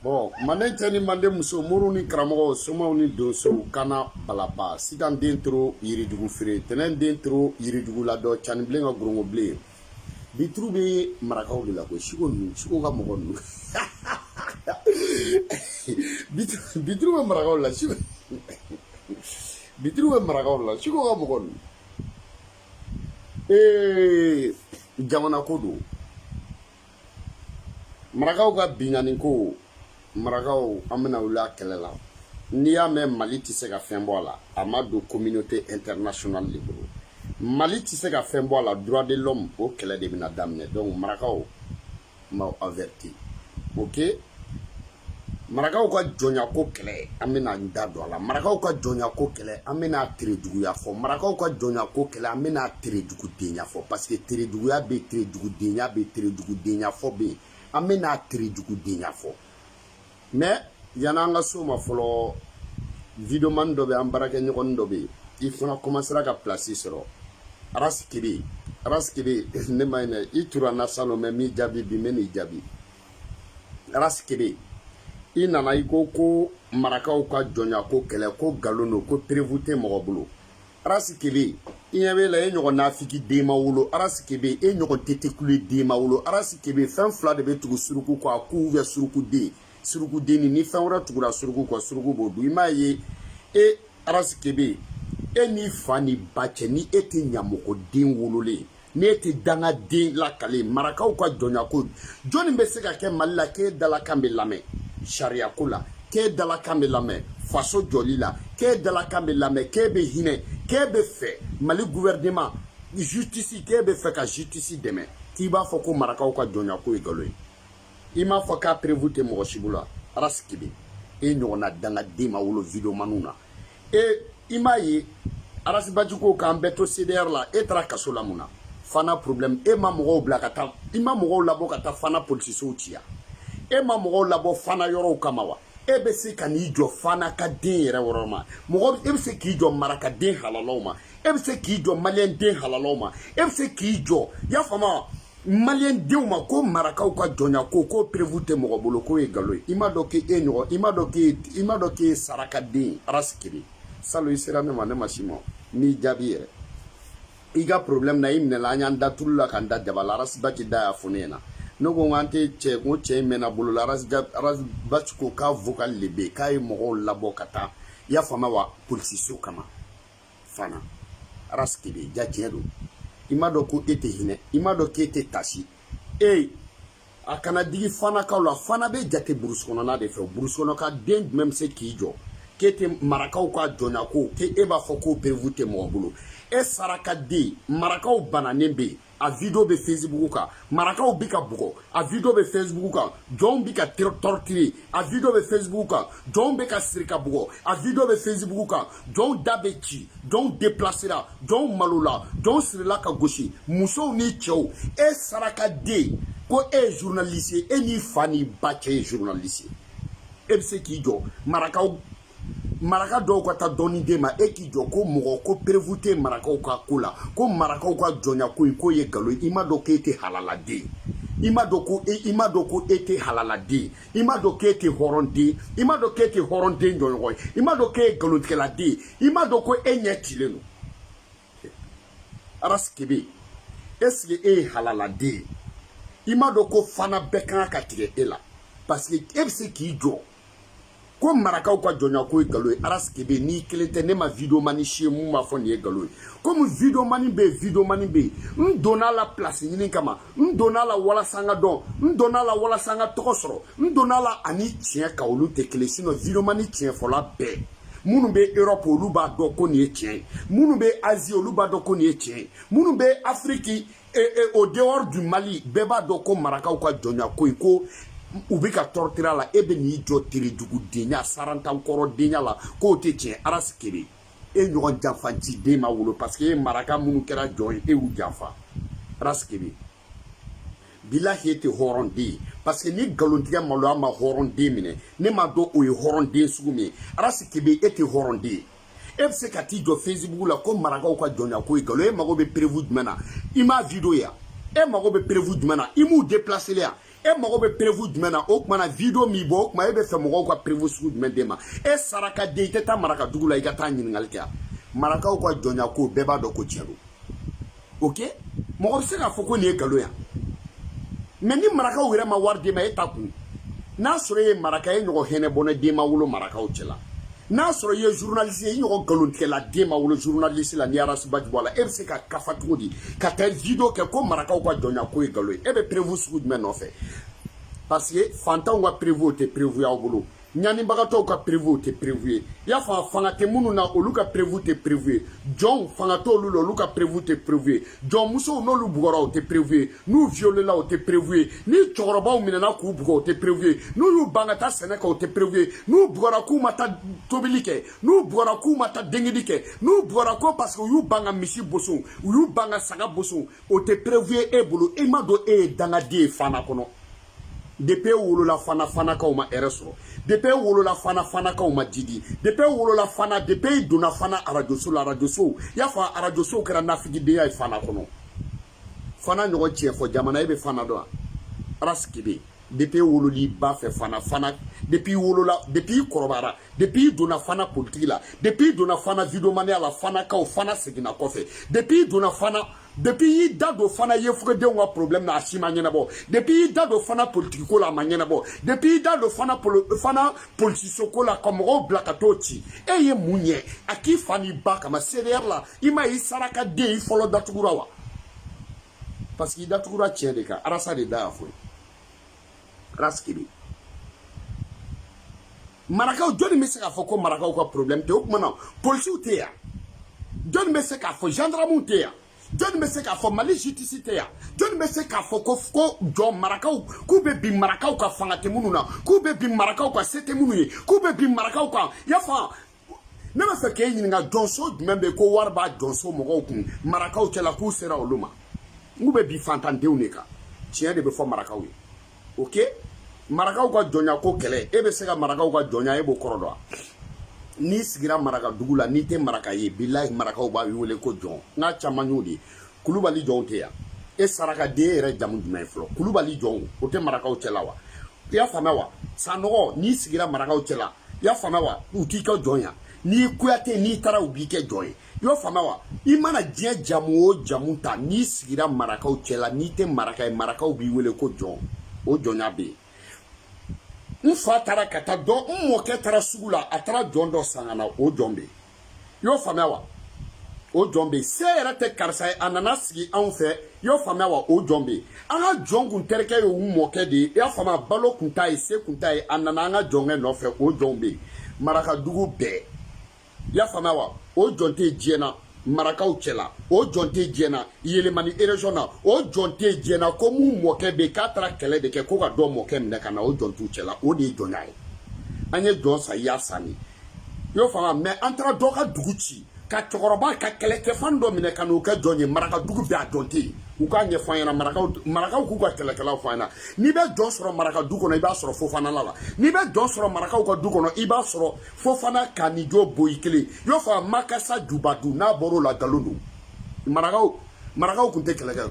bon manden cɛ ni manden muso mori ni karamɔgɔw somaw ni donsow kana balaba sitan den toro yirijugu feere tɛnɛn den toro yirijugu ladɔ canibilen ka gorongo bilen bi turu bɛ marakaw de la ko siko ninnu siko ka mɔgɔ ninnu bi turu bɛ marakaw la siko bi turu bɛ marakaw la siko ka mɔgɔ ninnu ee jamana ko don marakaw ka binkanni ko marakaw an bɛna wuli a kɛlɛ la n'i y'a mɛn mali tɛ se ka fɛn bɔ a la a ma don communauté internationale de bolo mali tɛ se ka fɛn bɔ a la droit de l'homme o kɛlɛ de bɛna daminɛ donc marakaw n b'aw averti ok marakaw ka jɔnyako kɛlɛ an bɛn'an da don a la marakaw ka jɔnyako kɛlɛ an bɛna terejuguya fɔ marakaw ka jɔnyako kɛlɛ an bɛna terejugudenya fɔ parce que terejuguya bɛ yen terejugudenya bɛ yen terejugudenya fɔ bɛ yen an bɛna terejugudenya fɔ mais yanni an ka s'o ma fɔlɔ videomani dɔ bɛ an baarakɛɲɔgɔn dɔ bɛ yen i fana kɔmasera ka pilasi sɔrɔ arasikebe arasikebe ne ma ɲinɛ i tura n na salon mais n m'i jaabi bi n bɛn'i jaabi rasikebe i nana i ko ko marakaw ka jɔnya ko kɛlɛ ko nkalon don ko preuve tɛ mɔgɔ bolo arasikebe i ɲɛ b'a la e ɲɔgɔn nafiki den ma wolo arasikebe e ɲɔgɔn tetekulu den ma wolo arasikebe fɛn fila de bɛ tugu suruku kɔ a ku bɛ suruku den suruku denni ni fɛn wɛrɛ tugura suruku kɔ suruku b'o dun i m'a ye e arasikebe e n'i fa n'i ba cɛ ni e tɛ ɲamɔgɔden wololen n'e tɛ dangaden lakale marakaw ka jɔnyako jɔnni bɛ se ka kɛ mali la k'e dalakan bɛ lamɛn sariyako la k'e dalakan bɛ lamɛn faso jɔli la k'e dalakan bɛ lamɛn k'e bɛ hinɛ k'e b'a fɛ mali guvɛrɛneman justice k'e b'a fɛ ka justice dɛmɛ k'i b'a fɔ ko marakaw ka jɔnyako ye nkalon ye i m'a fɔ k'a preuve tɛ mɔgɔ si bolo arasikebe e ɲɔgɔnna dangaden ma wolo videomaniw na e i m'a ye arasibati ko k'an bɛɛ to cdr la e taara kaso la mun na fana problème e ma mɔgɔw bila ka taa i ma mɔgɔw labɔ ka taa fana polisisow tiɲɛ e ma mɔgɔw labɔ fana yɔrɔw kama wa e bɛ se ka n'i jɔ fana ka den yɛrɛwolo ma mɔgɔ e bɛ se k'i jɔ maraka den halalaw ma e bɛ se k'i jɔ maliyɛn den halalaw ma e bɛ se k'i jɔ i y'a faamu wa maliyɛn denw ma ko marakaw ka jɔnya ko ko preuve tɛ mɔgɔ bolo k'o ye nkalon ye i m'a dɔn k'e ɲɔgɔn i m'a dɔn k'e i m'a dɔn k'e sarakaden ye arasikebe salon i sera ne ma ne ma si ma n'i jaabi yɛrɛ i ka problème na i minɛla an y'an da tulu la k'an da jaba la arasibati da y'a fɔ ne ɲɛna ne ko n k'an tɛ cɛ ko cɛ in mɛnna bolo la arasibati ko k'a vocal de bɛ yen k'a ye mɔgɔw labɔ ka taa i y'a faamuya wa polisiso kama fana arasi kebe ja tiɲɛ don i m'a dɔn ko e tɛ hinɛ i m'a dɔn k'e tɛ tasi e a kana digi fanakaw la fana bɛ jate burusi kɔnɔna de fɛ burusi kɔnɔ ka den jumɛn bɛ se k'i jɔ k'e tɛ marakaw ka jɔnya ko k'e b'a fɔ ko preuve tɛ mɔgɔ bolo e saraka den marakaw bananen bɛ yen a video bɛ facebook kan marakaw bi ka bugɔ a video bɛ facebook kan jɔnw bi ka torturer a video bɛ facebook kan jɔnw bɛ ka siri ka bugɔ a video bɛ facebook kan jɔnw da bɛ ci jɔnw deplacera jɔnw malola jɔnw sirila ka gosi musow ni cɛw e saraka den ko e ye journaliste ye e n'i fa n'i ba cɛ ye journaliste ye e bɛ se k'i jɔ marakaw maraka dɔw ka ta dɔɔni d'e ma e k'i jɔ ko mɔgɔ ko preuve tɛ marakaw ka ko la ko marakaw ka jɔnya ko in k'o ye nkalon ye i m'a dɔn k'e tɛ halaladen i m'a dɔn ko e i m'a dɔn ko e tɛ halaladen i m'a dɔn k'e tɛ hɔrɔnden i m'a dɔn k'e tɛ hɔrɔnden jɔɲɔgɔn ye i m'a dɔn k'e ye nkalontigɛladen ye i m'a dɔn ko e ɲɛ cilen don aras kebe est-ce que e ye halaladen ye i m'a dɔn ko fana bɛɛ ka kan ka tigɛ e la parce que e bɛ se k'i jɔ ko marakaw ka jɔnya ko ye nkalon ye aras kebe n'i kelen tɛ ne ma videomani si ye min b'a fɔ nin ye nkalon ye komi videomani bɛ yen videomani bɛ yen n donna la place ɲini kama n donna la walasa n ka dɔn n donna la walasa n ka tɔgɔ sɔrɔ n donna la ani tiɲɛ ka olu tɛ kelen sinon videomani tiɲɛ fɔla bɛɛ minnu bɛ europe olu b'a dɔn ko nin ye tiɲɛ ye minnu bɛ asie olu b'a dɔn ko nin ye tiɲɛ ye minnu bɛ afiriki e, e, au dehors du mali bɛɛ b'a dɔn ko marakaw ka jɔnya ko in ko u bɛ ka torturer la e bɛ n'i jɔ terejugudenya sarantankɔrɔdenya la k'o tɛ tiɲɛ arasi kebe e ɲɔgɔn janfanciden ma wolo parce que e maraka minnu kɛra jɔn ye e y'u janfa arasi kebe bilahi e tɛ hɔrɔn den ye parce que ni nkalontigɛ maloya ma hɔrɔn den minɛ ne m'a dɔn o ye hɔrɔn den sugu min ye arasi kebe e tɛ hɔrɔn den ye e bɛ se ka t'i jɔ facebook la ko marakaw ka jɔnya ko ye nkalon e mago bɛ preuve jumɛn na i m'a video ye e mago bɛ preuve jumɛn na i m'u déplacer yan e mago bɛ preuve jumɛn na o tuma na video min bɔ o tuma e b'a fɛ mɔgɔw ka preuve sugu jumɛn d'e ma e saraka den i tɛ taa maraka dugu la i ka taa ɲininkali kɛ yan marakaw ka jɔnya ko bɛɛ b'a dɔn ko tiɲɛ don ok mɔgɔ bɛ se k'a fɔ ko nin ye nkalon ye mais ni marakaw yɛrɛ ma wari d'e ma e ta kun n'a sɔrɔ e ye maraka ye i ɲɔgɔn hɛnɛ bɔnɛ den ma wolo marakaw cɛla n'a sɔrɔ i ye journaliste ye i ɲɔgɔn nkalontigɛla den ma wolo journaliste la ni arasi bati bɔ a la e bɛ se ka kafa cogo di ka taa video kɛ ko marakaw ka jɔnya ko ye nkalon ye e bɛ preuve sugu jumɛn nɔfɛ parce que fantanw ka preuve tɛ preuve y'aw bolo ɲanibagatɔw ka perevu o tɛ perevu ye y'a faamu fanga tɛ minnu na olu ka perevu tɛ perevu ye jɔnw fanga t'olu la olu ka perevu tɛ perevu ye jɔnmusow n'olu bugɔra o tɛ perevu ye n'u violela o tɛ perevu ye ni cɛkɔrɔbaw minɛna k'u bugɔ o tɛ perevu ye n'u y'u ban ka taa sɛnɛ kɛ o tɛ perevu ye n'u bugɔra k'u ma taa tobili kɛ n'u bugɔra k'u ma taa denkundi kɛ n'u bugɔra ko parce que u y'u ban ka misi boson u y'u ban ka saga boson o tɛ perevu ye e bolo i m'a dɔn e ye dangaden ye fana kɔnɔ depuis i wolola fana fanakaw ma hɛrɛ sɔrɔ depuis i wolola fana fanakaw ma didi depuis i wolola fana depuis i donna fana arajoso la arajoso i y'a faamu arajosow kɛra nafigidenya ye fana kɔnɔ fana ɲɔgɔn tiɲɛ fɔ jamana e bɛ fana dɔn ras kebe depuis i wolola i ba fɛ fana fana depuis i wolola depuis i kɔrɔbayara depuis i donna fana politiki la depuis i donna fana videomaniya la fanakaw fana seginna kɔfɛ depuis i donna fana depuis y'i da don fana yefugedenw ka problème na a si ma ɲɛnabɔ depuis y'i da don fana politiki ko la a ma ɲɛnabɔ depuis y'i da don fana fana polisiso ko la ka mɔgɔw bila ka t'o ci e ye mun ɲɛ a k'i fa n'i ba kama cdr la i ma y'i sarakaden i fɔlɔ datugura wa parce que i datugura tiɲɛ de kan arasa de da y'a fɔ ye ras kebe marakaw jɔnni bɛ se k'a fɔ ko marakaw ka problème tɛ o kuma na polisiw tɛ yan jɔnni bɛ se k'a fɔ gendarmew tɛ yan jɔnni bɛ se k'a fɔ mali justice tɛ yan jɔnni bɛ se k'a fɔ ko ko jɔn marakaw k'u bɛ bin marakaw kan fanga tɛ minnu na k'u bɛ bin marakaw kan se tɛ minnu ye k'u bɛ bin marakaw kan i y'a faamu ne b'a fɛ k'e ɲininka jɔnso jumɛn bɛ ko wari b'a jɔnso mɔgɔw kun marakaw cɛla k'u sera olu ma nk'u bɛ bin fantandenw de kan tiɲɛ de bɛ fɔ marakaw ye ok marakaw ka jɔnya ko kɛlɛ e bɛ se ka marakaw ka jɔnya e b'o kɔrɔ dɔn wa n'i sigira maraka dugu la n'i tɛ maraka ye bilahi marakaw b'a wele ko jɔn nk'a caman y'o de ye kulubali jɔnw tɛ yan e sarakaden yɛrɛ jamu jumɛn ye fɔlɔ kulubali jɔnw o tɛ marakaw cɛla wa i y'a faamuya wa sanɔgɔ n'i sigira marakaw cɛla i y'a faamuya wa u t'i kɛ jɔn ye wa n'i kuyate n'i taara u b'i kɛ jɔn ye i y'o faamuya wa i mana diɲɛ jamu o jamu ta n'i sigira marakaw cɛla n'i tɛ maraka ye marakaw b'i wele ko jɔn o jɔnya bɛ yen n fa taara ka taa dɔ n mɔkɛ taara sugu la a taara jɔn dɔ san ka na o jɔn bɛ yen i y'o faamuya wa o jɔn bɛ yen se yɛrɛ tɛ karisa ye a nana sigi anw fɛ i y'o faamuya wa o jɔn bɛ yen an ka jɔn kun terikɛ ye o mɔkɛ de ye i y'a faamuya balo kun t'a ye se kun t'a ye a nana an ka jɔnkɛ nɔfɛ o jɔnw bɛ yen marakadugu bɛɛ i y'a faamuya wa o jɔn tɛ diɲɛ na marakaw cɛla o jɔn tɛ diɲɛ na yelimani région na o jɔn tɛ diɲɛ na ko min mɔkɛ bɛ yen k'a taara kɛlɛ de kɛ ko ka dɔ mɔkɛ minɛ ka na o jɔn t'u cɛla o de ye jɔnya ye an ye jɔn san i y'a san de i y'o faamu mais an taara dɔ ka dugu ci ka cɛkɔrɔba ka kɛlɛkɛfan dɔ minɛ ka n'o kɛ jɔn ye maraka dugu bɛɛ a jɔn tɛ yen u k'a ɲɛfɔ an ɲɛna marakaw marakaw k'u ka kɛlɛkɛlaw fɔ an ɲɛna n'i bɛ jɔn sɔrɔ maraka du kɔnɔ i b'a sɔrɔ fofanala la n'i bɛ jɔn sɔrɔ marakaw ka du kɔnɔ i b'a sɔrɔ fofana kanijo boyi kelen i y'o faamu makasa jubadu n'a bɔr'o la nkalon don marakaw marakaw tun tɛ kɛlɛkɛ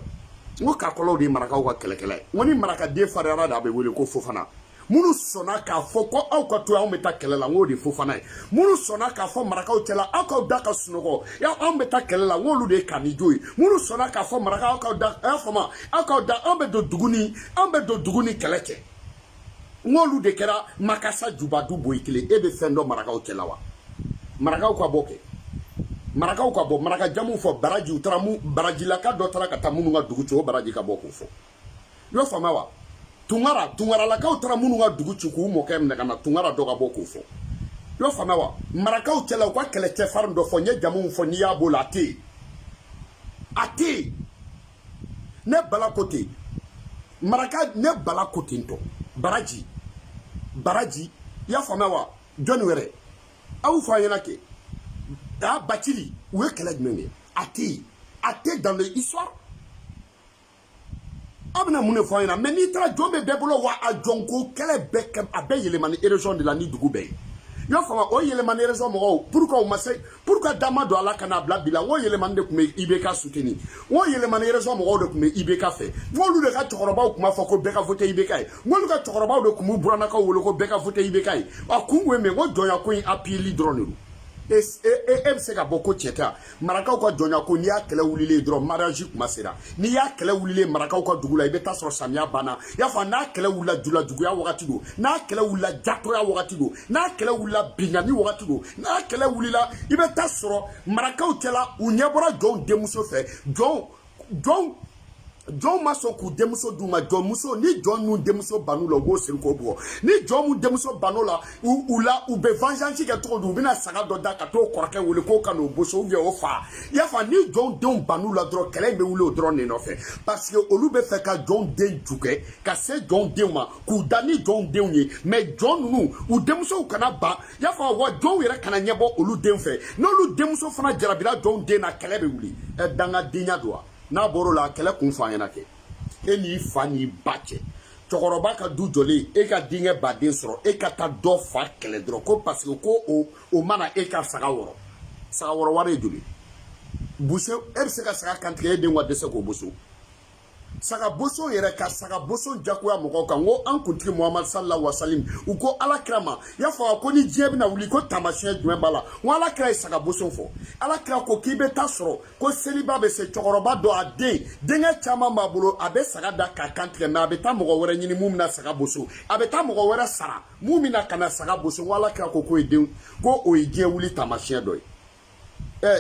n ko kakɔlɔw de ye marakaw ka kɛlɛkɛla ye n ko ni marakaden farinyara de a bɛ wele ko fofana minnu sɔnna k'a fɔ ko aw ka to anw bɛ taa kɛlɛ la n k'o de fofana ye minnu sɔnna k'a fɔ marakaw cɛla aw k'aw da ka sunɔgɔ yan anw bɛ taa kɛlɛ la n k'olu de ye kanijo ye minnu sɔnna k'a fɔ maraka aw k'aw da i y'a faamu aw k'aw da anw bɛ don dugu ni anw bɛ don dugu ni kɛlɛ kɛ n k'olu de kɛra makasa jubadu boyi kelen e bɛ fɛn dɔn marakaw cɛla wa marakaw ka bɔ kɛ marakaw ka bɔ maraka jamuw fɔ baraji u taara mu barajilaka dɔ taara ka taa minnu ka dugu ci o baraji ka bɔ k'o fɔ i y'o faamu wa tunkara tunkaralakaw taara minnu ka dugu ci k'u mɔkɛ minɛ ka na tunkara dɔ ka bɔ k'o fɔ i y'o faamu wa marakaw cɛla u ka kɛlɛcɛ farin dɔ fɔ n ye jamuw fɔ n'i y'a b'o la a tɛ yen a tɛ yen ne bala ko ten maraka ne bala ko ten tɔ baraji baraji i y'a faamu wa jɔni wɛrɛ aw fɔ an ɲɛna kɛ a bacili u ye kɛlɛ jumɛn kɛ a tɛ yen a tɛ dans l'histoire aw bɛna mun de fɔ an ɲɛna mais n'i taara jɔn bɛ bɛɛ bolo wa a jɔnko kɛlɛ bɛ kɛ a bɛ yɛlɛmani région de la ni dugu bɛɛ ye i y'a faamu o yɛlɛmani région mɔgɔw pourquoi u ma se pourquoi dama don a la ka n'a bila bi la n ko yɛlɛmani de tun bɛ ibk soutenir n ko yɛlɛmani région mɔgɔw de tun bɛ ibk fɛ n k'olu de ka cɛkɔrɔbaw tun b'a fɔ ko bɛɛ ka vote ibk ye n k'olu ka cɛkɔrɔbaw de tun b'u buranakaw wele ko bɛɛ ka vote ibk ye a kun kun ye min ye n ko jɔnya ko in appel dɔrɔn de don e bɛ se ka bɔ ko cɛ tɛ yan marakaw ka jɔnya ko n'i y'a kɛlɛ wulilen dɔrɔn mariage kuma sera n'i y'a kɛlɛ wulilen marakaw ka dugu la i bɛ taa sɔrɔ samiya banna i y'a faamu n'a kɛlɛ wulila julajuguya wagati don n'a kɛlɛ wulila jatɔya wagati don n'a kɛlɛ wulila binkanni wagati don n'a kɛlɛ wulila i bɛ taa sɔrɔ marakaw cɛla u ɲɛ bɔra jɔnw denmuso fɛ jɔnw jɔnw jɔn ma sɔn k'u denmuso d'u ma jɔnmuso ni jɔn n'u denmuso ban'u la u b'o siri k'o bugɔ ni jɔn min denmuso ban'o la u u la u bɛ vengeance kɛ cogo di u bɛna saga dɔ da ka t'o kɔrɔkɛ wele k'o ka n'o boso ou bien o fa i y'a faamu ni jɔnw denw ban'u la dɔrɔn kɛlɛ in bɛ wuli o dɔrɔn de nɔfɛ parce que olu b'a fɛ ka jɔnw den jukɛ ka se jɔnw denw ma k'u da ni jɔnw denw ye mais jɔn ninnu u denmusow kana ban i y'a faamu wa jɔnw yɛrɛ kana ɲɛbɔ olu den fɛ n'olu denmuso fana jarabira jɔnw den na kɛlɛ bɛ wuli ɛ dangadenya don wa n'a bɔr'o la kɛlɛ kun fɔ an ɲɛna kɛ e n'i fa n'i ba cɛ cɛkɔrɔba ka du jɔlen e ka denkɛ baden sɔrɔ e ka taa dɔ fa kɛlɛ dɔrɔn ko parce que ko o o ma na e ka saga wɔrɔ saga wɔrɔ wari ye joli buse e bɛ se ka saga kantigɛ e den ka dɛsɛ k'o boso saga boson yɛrɛ ka saga boson jagoya mɔgɔw kan ko an kuntigi muhamadu salalahu wasalim u ko ala kira ma y'a fɔ ko ni diɲɛ bɛna wuli ko taamasiyɛn jumɛn b'a la ko ala kira ye saga boson fɔ ala kira ko k'i bɛ taa sɔrɔ ko seliba bɛ se cɛkɔrɔba dɔ a den denkɛ caman b'a bolo a bɛ saga da k'a kan tigɛ n'a bɛ taa mɔgɔ wɛrɛ ɲini mun bɛna saga boson a bɛ taa mɔgɔ wɛrɛ sara mun bɛna ka na saga boson ko ala kira ko k'o ye den ko o ye diɲɛ wuli taamasiyɛn dɔ ye ɛ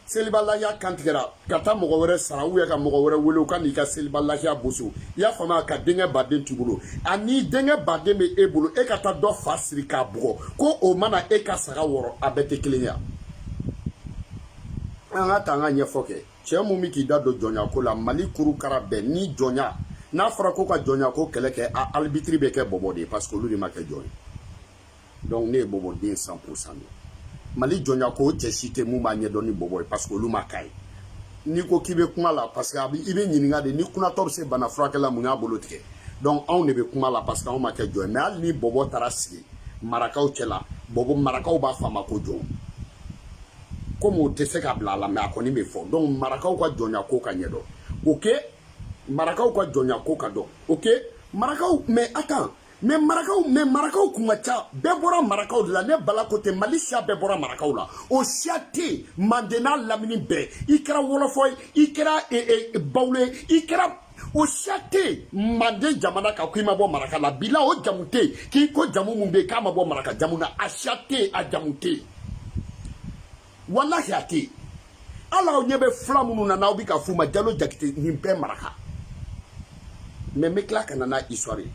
seliba lahiya kantigɛra ka taa mɔgɔ wɛrɛ sara ou bien ka mɔgɔ wɛrɛ wele u ka n'i ka seliba lahiya boso i y'a faamuya ka denkɛ baden t'i bolo ani denkɛ baden bɛ e bolo e ka taa dɔ fa siri k'a bugɔ ko o ma na e ka saga wɔrɔ a bɛɛ tɛ kelen ye an ka taa an ka ɲɛfɔ kɛ cɛ mun bɛ k'i da don jɔnyako la mali kurukara bɛɛ ni jɔnya n'a fɔra ko ka jɔnyako kɛlɛ kɛ a arbitre bɛ kɛ bɔbɔ de ye parce que olu de ma kɛ jɔn ye donc ne ye bɔbɔden cent pour cent don mali jɔnya ko cɛ si tɛ mun b'a ɲɛdɔn ni bɔbɔ ye parce que olu ma k'a ye n'i ko k'i bɛ kuma la parce que a bɛ i bɛ ɲininka de ni kunatɔ bɛ se bana furakɛ la mun y'a bolo tigɛ donc anw de bɛ kuma la parce que anw ma kɛ jɔn ye mais hali ni bɔbɔ taara sigi marakaw cɛ la bɔbɔ marakaw b'a f'a ma ko jɔn komi o tɛ se ka bila a la mais a kɔni bɛ fɔ donc marakaw ka jɔnya ko ka ɲɛdɔn ok marakaw ka jɔnya ko ka dɔn ok marakaw mais attends mais marakaw mais marakaw kun ka ca bɛɛ bɔra marakaw de la ne bala ko tɛ mali siya bɛɛ bɔra marakaw la o siya tɛ yen manden n'a lamini bɛɛ i kɛra wɔlɔfɔ ye i kɛra e, e, bawule ye i kɛra o siya tɛ yen manden jamana kan ko i ma bɔ maraka la bi la o jamu tɛ yen k'i ko jamu min bɛ yen k'a ma bɔ maraka jamu na a siya tɛ yen a jamu tɛ yen walahi a tɛ yen hali aw ɲɛ bɛ fila minnu na n'aw bɛ ka f'u ma jalo jakite nin bɛɛ maraka mais n bɛ tila ka na n'a histoire ye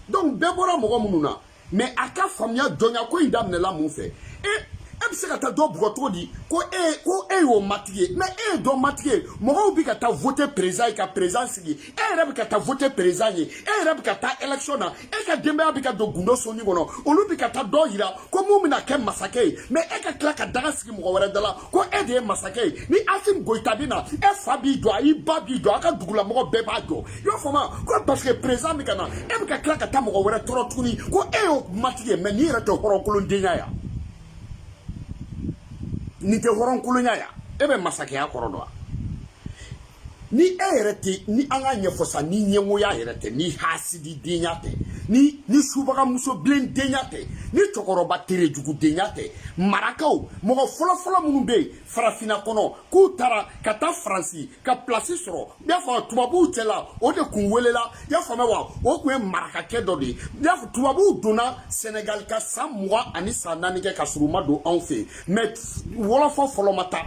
donc bɛɛ bɔra mɔgɔ minnu na mais a ka faamuya jɔnya ko in daminɛla mun fɛ e e bɛ se ka taa dɔ bugɔ cogo di ko e ko e y'o matigi ye mais e ye dɔ matigi ye mɔgɔw bɛ ka taa voter président ye ka président sigi e yɛrɛ bɛ ka taa voter président ye e yɛrɛ bɛ ka taa élection na e ka denbaya bɛ ka don gundosonin kɔnɔ olu bɛ ka taa dɔ yira ko mun bɛna kɛ masakɛ ye mais e ka tila ka daga sigi mɔgɔ wɛrɛ da la ko e de ye masakɛ ye ni asimi goyita bɛ na e fa b'i jɔ an'i ba b'i jɔ a ka dugulamɔgɔ bɛɛ b'a jɔ i y'a faamu ko parce que président bɛ ka na e bɛ ka tila ka taa mɔgɔ wɛrɛ tɔɔrɔ tuguni ko e y'o matigi ye mais nin yɛrɛ tɛ hɔrɔnkolondenya yan nin tɛ hɔrɔnkolonya yan e bɛ masakɛya kɔrɔ dɔn wa ni e yɛrɛ tɛ ni an ka ɲɛfɔ sa ni ɲɛngoya yɛrɛ tɛ ni hasidi denya tɛ ni ni subagamuso bilen denya tɛ ni cɛkɔrɔba tere jugu denya tɛ marakaw mɔgɔ fɔlɔfɔlɔ minnu bɛ yen farafinna kɔnɔ k'u taara ka taa faransi ka pilasi sɔrɔ i y'a fɔ tubabuw cɛ la o de kun welela i y'a faamuya wa o kun ye marakakɛ dɔ de ye i y'a fɔ tubabuw donna sɛnɛgali ka san mugan ani san naani kɛ ka sɔrɔ u ma don anw fɛ yen mais wɔlɔfɔ fɔlɔ ma taa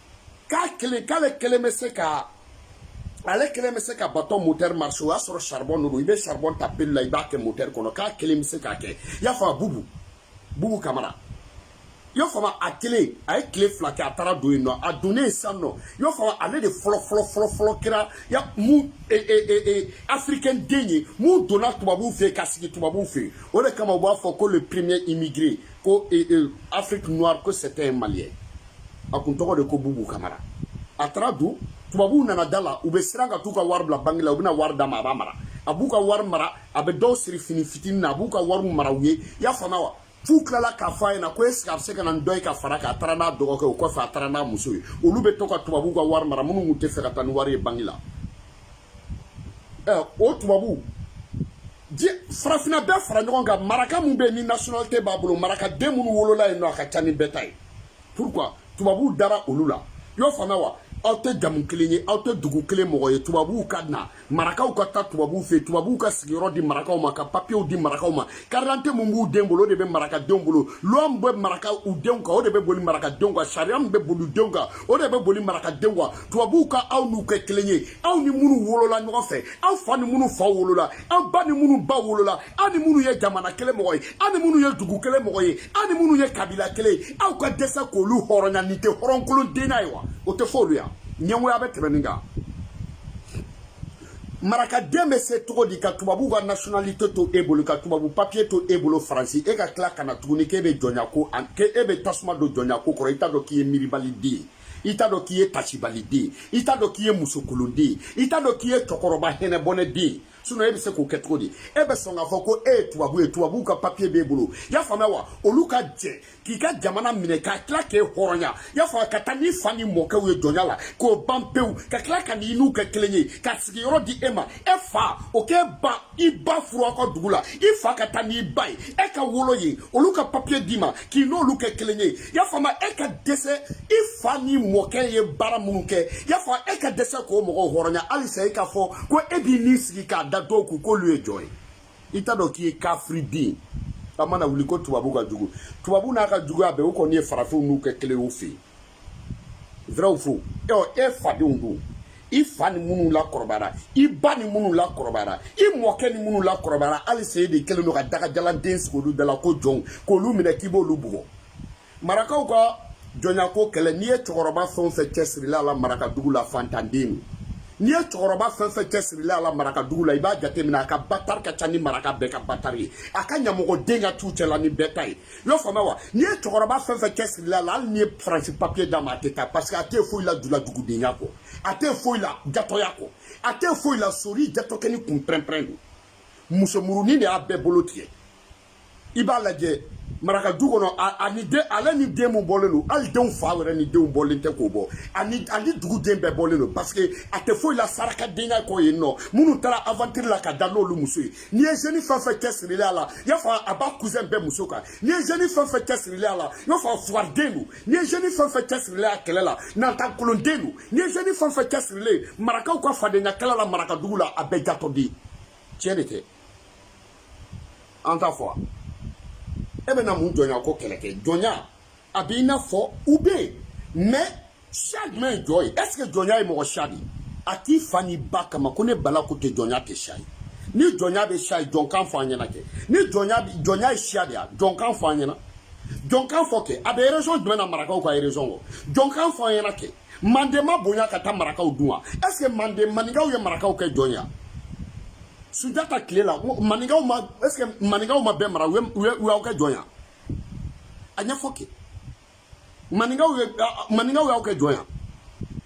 k'a kelen k'ale kelen bɛ se ka ale kelen bɛ se ka bato motɛri marisi o y'a sɔrɔ saribɔn ninnu i bɛ saribɔn ta peli la i b'a kɛ motɛri kɔnɔ k'a kelen bɛ se k'a kɛ i y'a faamu bubu bubu kamara i y'a faamu a kelen a ye tile fila kɛ a taara don yen nɔ a donnen sisan nɔ i y'a faamu ale de fɔlɔ fɔlɔ fɔlɔ fɔlɔ kɛra ya mun e, e, e, e, africain den ye mun donna tubabuw fɛ yen ka sigi tubabuw fɛ yen o de kama u b'a fɔ ko le premier immigré ko e, e, afrique noire ko c'était un malien a kun tɔgɔ de ko bubu kamara a taara don tubabuw nana d'a la u bɛ siran ka t'u ka wari bila bangi la u bɛna wari d'a ma a b'a mara a b'u ka wari mara a bɛ dɔw siri fini fitinin na a b'u ka wariw mara u ye i y'a faamuya wa f'u tilala k'a fɔ a ɲɛna ko est-ce que a bɛ se ka na ni dɔ ye ka fara a kan a taara n'a dɔgɔkɛ o kɔfɛ a taara n'a muso ye olu bɛ to ka tubabuw ka wari mara minnu tun tɛ fɛ ka taa ni wari ye bangi la ɛ o tubabu di farafinna bɛɛ fara ɲɔgɔn kan maraka min bɛ yen ni nationalité b'a bolo marakaden minnu wolola yen nɔ a ka ca ni bɛɛ ta ye pourquoi tubabuw dara olu la i y'o faamuya wa aw tɛ jamu kelen ye aw tɛ dugu kelen mɔgɔ ye tubabuw ka na marakaw ka taa tubabuw fɛ tubabuw ka sigiyɔrɔ di marakaw ma ka papiyew di marakaw ma karidante min b'u den bolo o de bɛ marakadenw bolo loi min bɛ maraka u denw kan o de bɛ boli marakadenw kan sariya min bɛ boli u denw kan o de bɛ boli marakadenw kan tubabuw ka aw n'u kɛ kelen ye aw ni minnu wolola ɲɔgɔn fɛ aw fa ni minnu fa wolola aw ba ni minnu ba wolola aw ni minnu ye jamana kelen mɔgɔ ye aw ni minnu ye dugu kelen mɔgɔ ye aw ni minnu ye kabila kelen ye aw ka dɛsɛ k'olu hɔrɔnya nin tɛ hɔrɔnkolondenya ye wa o tɛ fɔ olu ya ɲɛngoya bɛ tɛmɛ nin kan marakaden bɛ se cogo di ka tubabu ka nationalité to e bolo ka tubabu papier to e bolo faransi e ka tila ka na tuguni k'e bɛ jɔnya ko k'e bɛ tasuma don jɔnya ko kɔrɔ i t'a dɔn k'i ye miiribaliden ye i t'a dɔn k'i ye taasibaliden i t'a dɔn k'i ye musokolonden i t'a dɔn k'i ye cɛkɔrɔba hɛnɛbɔnɛ den sinɔn e bɛ se k'o kɛ cogo di e bɛ sɔn k'a fɔ ko e ye tubabu ye tubabuw ka papiye b'e bolo y'a faamuya wa olu ka jɛ k'i ka jamana minɛ ka tila k'e hɔrɔnya y'a faamuya ka taa n'i fa n'i mɔkɛw ye jɔnya la k'o ban pewu ka tila ka n'i n'u kɛ kelen ye ka sigiyɔrɔ di e ma e fa o k'e ba i ba furu aw ka dugu la i fa ka taa n'i ba ye e ka wolo yen olu ka papiye d'i ma k'i n'olu kɛ kelen ye y'a faamuya e ka dɛsɛ i fa n'i mɔkɛ ye baara minnu kɛ y'a faamu e ka dɛsɛ k'o mɔgɔw hɔrɔnya halisa e k'a fɔ ko e b'i ni sigi k'a da dɔw kun k'olu ye jɔn ye i t'a dɔn k'i ye kafiri den an mana wuli ko tubabu ka jugu tubabu n'a ka juguya bɛɛ u kɔni ye farafinw n'u kɛ kelen y'u fɛ yen vrai ou faux e fadenw don i fa ni minnu lakɔrɔbayara i ba ni minnu lakɔrɔbayara i mɔkɛ ni minnu lakɔrɔbayara halisa e de kɛlen don ka dagajalan den sigi olu da la ko jɔnw k'olu minɛ k'i b'olu bugɔ marakaw ka jɔnyako kɛlɛ n'i ye cɛkɔrɔba fɛn o fɛn cɛsirila a la marakadugu la fantanden don n'i ye cɛkɔrɔba fɛn o fɛn cɛsirila a la marakadugu la i b'a jateminɛ a ka batari ka ca ni maraka bɛɛ ka batari ye a ka ɲamɔgɔden ka c'u cɛla ni bɛɛ ta ye i y'o faamuya wa n'i ye cɛkɔrɔba fɛn fɛn cɛsirilen a la hali n'i ye faransi papiye d'a ma a tɛ taa parce que a tɛ foyi la dula dugudenya kɔ a tɛ foyi la jatɔya kɔ a tɛ foyi la sori jatɔkɛ ni kun pɛrɛnpɛrɛn don musomurunin de y'a bɛɛ bolo tigɛ i b'a lajɛ marakadugu kɔnɔ ani den ale ni den mun bɔlen don hali denw fa yɛrɛ ni denw bɔlen tɛ k'o bɔ ani ani dugu den bɛɛ bɔlen don parce que a tɛ foyi la saraka denya kɔ jeune minnu taara aventure la ka da n'olu muso ye n'i ye zeni fɛn fɛn cɛsirilen a la i y'a fɔ a b'a kuzɛn bɛɛ muso kan n'i ye zeni fɛn fɛn cɛsirilen a la i y'a fɔ a fugariden don n'i ye zeni fɛn fɛn cɛsirilen a kɛlɛ la nantankolonden don n'i ye zeni fɛn fɛn cɛsirilen marakaw ka fadenya kɛlɛ la marakadugu la a bɛɛ jatɔ de tiɲɛ de tɛ an t'a fɔ wa e bɛna mun jɔnya ko kɛlɛ kɛ jɔnya a bɛ i n'a fɔ u bɛ yen mɛ siya jumɛn ye jɔn ye ɛseke jɔnya ye mɔgɔ siya de ye a t'i fa n'i ba kama ko ne bala ko tɛ jɔnya tɛ siya ye ni jɔnya bɛ siya ye jɔnkan fɔ an ɲɛna kɛ ni jɔnya jɔnya ye siya de ye jɔnkan fɔ an ɲɛna jɔnkan fɔ kɛ a bɛ erezɔn jumɛn na marakaw ka erezɔn kɔ jɔnkan fɔ an ɲɛna kɛ manden ma bonya ka taa marakaw dun wa ɛseke manden maninkaw ye marakaw kɛ jɔn ye wa sunjata tile la maninkaw ma ɛseke maninkaw ma bɛɛ mara u y'aw kɛ jɔn ye wa a ɲɛfɔ kɛ maninkaw ye maninkaw y'aw kɛ jɔn yan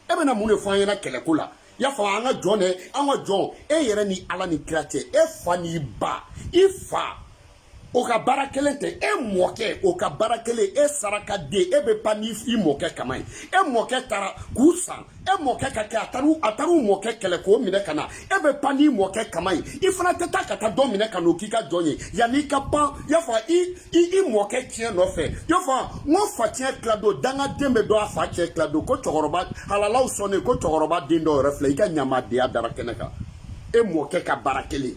e bɛna mun de fɔ an ɲɛna kɛlɛko la i y'a faamu an ka jɔn dɛ an ka jɔn e yɛrɛ ni ala ni kira cɛ e fa n'i ba i fa o ka baara kɛlen tɛ e mɔkɛ o ka baara kɛlen e saraka den e bɛ pan ni i mɔkɛ kaman ye e mɔkɛ taara k'u san e mɔkɛ ka kɛ a taar'u a taar'u mɔkɛ kɛlɛ k'o minɛ ka na e bɛ pan n'i mɔkɛ kaman ye i fana tɛ taa ka taa dɔ minɛ ka n'o k'i ka jɔn ye yanni i ka pan y'a fɔ i i i mɔkɛ tiɲɛ nɔfɛ y'a fɔ n ko fa tiɲɛ tila don dangaden bɛ dɔn a fa tiɲɛ tila don ko cɛkɔrɔba halalaw sɔnnen ko cɛkɔrɔba den dɔw yɛrɛ filɛ i ka ɲamadenya dara kɛnɛ kan e mɔkɛ ka baara kɛlen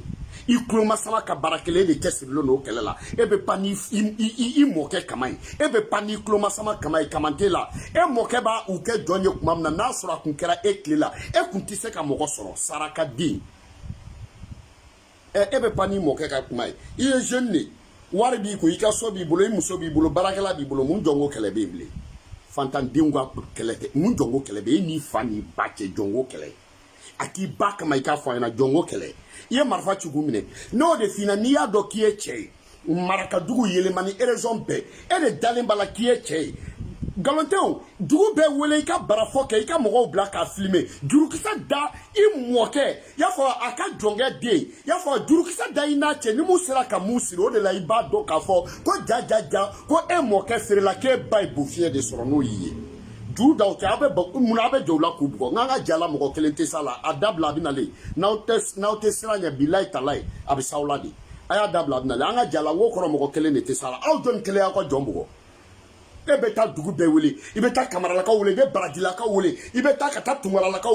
i kulomasama ka baara kɛlen e de cɛsirilen don o kɛlɛ la e bɛ pan ni i mɔkɛ kaman ye e bɛ pan ni kulomasama kaman ye kaman t'i la e mɔkɛ b'a u kɛ jɔn ye tuma min na n'a sɔrɔ a kun kɛra e tile la e kun tɛ se ka mɔgɔ sɔrɔ saraka den ɛ e bɛ pan n'i mɔkɛ ka kuma ye i ye jeune de wari b'i kun i ka so b'i bolo i muso b'i bolo baarakɛla b'i bolo mun jɔnko kɛlɛ bɛ yen bilen fantandenw ka kɛlɛ tɛ mun jɔnko kɛlɛ bɛ yen e n'i fa n'i ba cɛ jɔnko kɛlɛ ye a k'i ba kama i k'a fɔ a ɲɛna jɔnko kɛlɛ i ye marifa ci k'u minɛ n'o de f'i ɲɛna n'i y'a dɔn k'i ye cɛ ye marakadugu yelimani erezɔn bɛɛ e de dalen b'a la k'i ye cɛ ye nkalon tɛ o dugu bɛɛ wele i ka barafɔ kɛ i ka mɔgɔw bila k'a filime jurukisɛ da i mɔkɛ y'a fɔ a ka jɔnkɛ den y'a fɔ jurukisɛ da i n'a cɛ ni mun sera ka mun siri o de la i b'a dɔn k'a fɔ ko ja ja ja ko e mɔkɛ feerela k'e ba ye bofiɲɛ de sɔrɔ n'o y'i ye juru da o tɛ aw bɛ mun aw bɛ jɔ u la k'u bugɔ n k'an ka jala mɔgɔ kelen tɛ s'a la a dabila a bɛ nalen n'aw tɛ siran ɲɛ bilayi talayi a bɛ s'aw la de a y'a dabila a bɛ nalen an ka jala wo kɔrɔ mɔgɔ kelen de tɛ s'a la aw jɔn kelen y'aw ka jɔn bugɔ e bɛ taa dugu bɛɛ wele i bɛ taa kamaralakaw wele i bɛ barajilakaw wele i bɛ taa ka taa tunkaralakaw